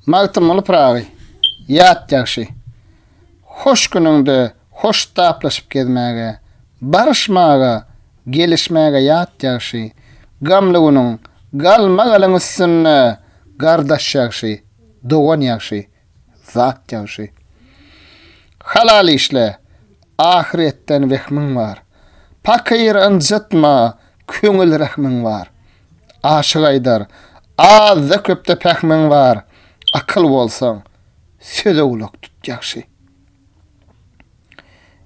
Magtymguly Pyragy, ýat ýagşy. Hoş günüňde hoş taplaşyp gezmäge, Baryşmaga, gelişmäge ýat ýagşy. Gamly günüň, galma-galyň üstünde, Gardaş ýagşy, dogan ýagşy. zat ýagşy. Halal işle, ahyretden wehmiň bar. Pakyr ynjytma, köňül rehmiň bar. Aşyk aýdar, azda-köpde pähmiň bar. Akyl bolsaň, söze gulak tut ýagşy.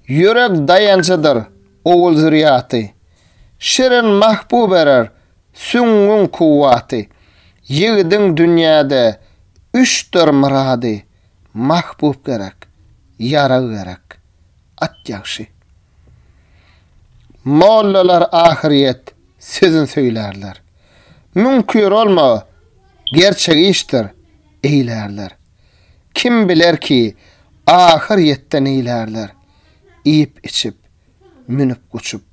Ýürek daýanjydyr, ogul-zürýaty. Şirin mahbub erer, Süňňüň kuwwaty. Ýigidiň dünýäde Üçdir myrady, Mahbub gerek, Ýarag gerek, At ýagşy. Mollalar ahyrýet Sözün söýlärler. Müňkür olma, Gerçek işdir, eýlärler. Kim biler ki, Ahyr ýetde neýlärler? Iýip-içip, münüp-guçup,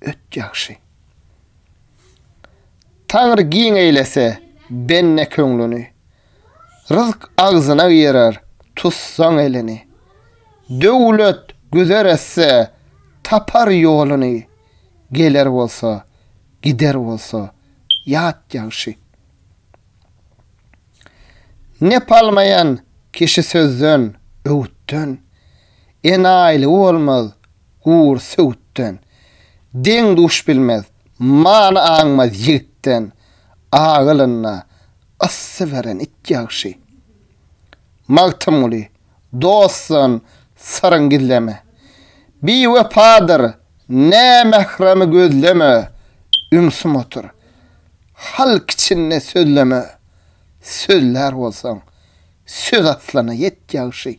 Öt ýagşy. Taňry giň eýlese bende köňlüni, Ryzk agzyna girer, tutsaň elini. Döwlet güzer etse, tapar ýoluny, Geler bolsa, gider bolsa, ýat ýagşy. Nep almaýan kişi sözden, öwütden, Enaýylygy bolmaz, gur söwütden, Deň-duş bilmez, many aňmaz ýigitden, Agylynda yssy beren it ýagşy. Magtymguly, dostdan syryň gizleme, Biwepadyr, nämähremi gözleme, Ümsüm otur, halk içinde sözleme, Sözlär bolsaň, söz aslana ýet ýagşy.